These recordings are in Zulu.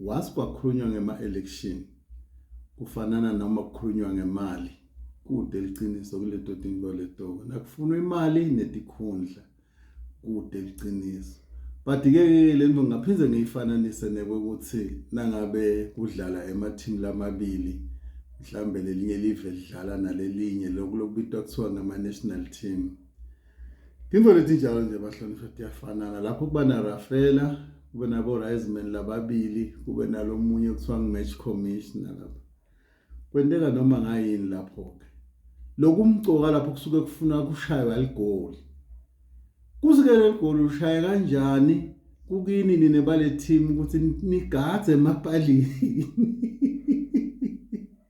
Was kwakhulunywa ngema election kufanana noma kukhulunywa ngemali kude liqiniso kuledoti ngoletoka nakufunwa imali netikhundla kude liqiniso but ke lento ngaphinde ngiyifananise nekokuthi nangabe kudlala ema team lamabili mhlambe lelinye live lidlala nalelinye lokubitwa kuthiwa ngama national team Timvo letinjalo nje bahlonishwa tiyafanana lapho kuba narafela kube nabo-riseman lababili kube nalomunye kuthiwa ngu-match commissioner lapho kwenteka noma ngayini lapho-ke lokhu umcoka lapho kusuke kufuna kushaywa ligoli kusuke leli goli ushaya kanjani kukini nine bale team ukuthi nigadze emapalini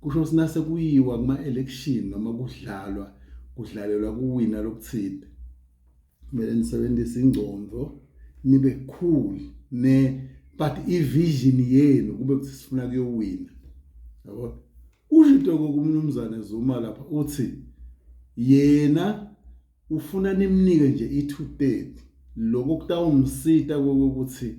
Kusho ukuthi nase kuyiwa kuma-election noma kudlalwa kudlalelwa kuwina lokuthile kumele nisebenzise ingcondo nibe cool ne but ivision yenu kube kuthi sifuna kuyowina yabo ushito kokumnumzane Zuma lapha uthi yena ufuna nimnike nje i230 lokho kutawumsita kokuthi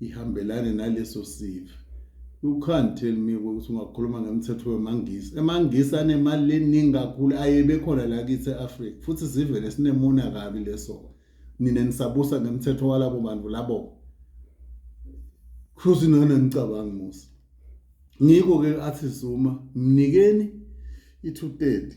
ihambelane naleso sive you can't tell me ukuthi ungakhuluma ngemthetho wemangisi emangisi anemali eningi kakhulu ayebe khona la kithi e-afrika futhi sivele sinemona kabi leso nina nisabusa ngemthetho walabo bantu labo futhi nona ngicabanga musa ngikho-ke athi zuma mnikeni i-two thirty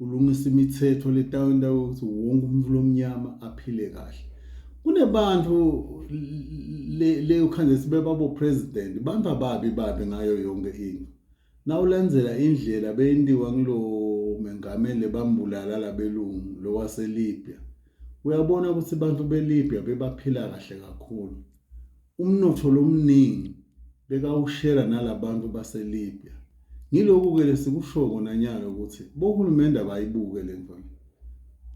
ulungisa imithetho letawenta ukuthi wonke umuntu lomnyama aphile kahle kunebantu le ukhande sibebabo president bantu ababi babi ngayo yonke into nawulandzela indlela beyentiwa kulo mengameli bambulala labelungu lowaseLibya uyabona ukuthi abantu beLibya bebaphila kahle kakhulu Umnotho lo omningi bekawushera nala bantu baseLibya. Ngiloku-ke le sikushoko nanyalo ukuthi bohulumende abayibuke le nto le.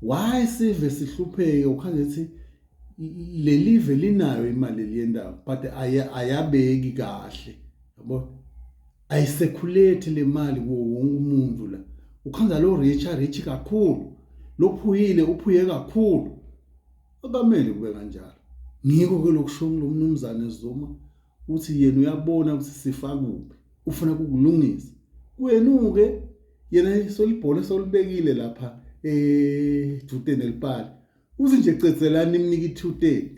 Why sive sihlupheke ukhale ukuthi le live linayo imali eliyendawo but ayabeki kahle yabo ayisekhuleti le mali kuwo wonke umuntu la ukhanda lo rich arich kakhulu lophuyile uphuye kakhulu Akamele kube kanjalo. Ngikho ke lokusho lo mnumzane Zuma uthi yena uyabona ukuthi sifa kuphi. Ufuna kukulungisa. Kwenuke yena isolibhola esolibekile lapha eh dute nelipali. Uthi nje cezelani imnike i-230.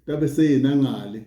Kabe seyena ngale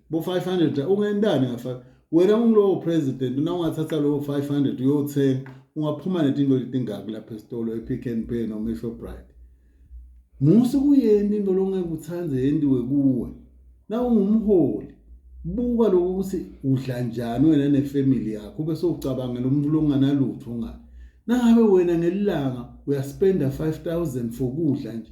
bo 500 ungentani ngafa wena ungilowo president na ungathatha lowo 500 uyothenga ungaphuma netinto letingaki lapha esitolo ePick n Pay noma eShoprite musu kuyeni into longeke uthande yendiwe kuwe na ungumholi buka lokho ukuthi udla njani wena nefamily yakho ube sowucabangela umuntu longanalutho ngayo nangabe wena ngelilanga uyaspenda 5000 for kudla nje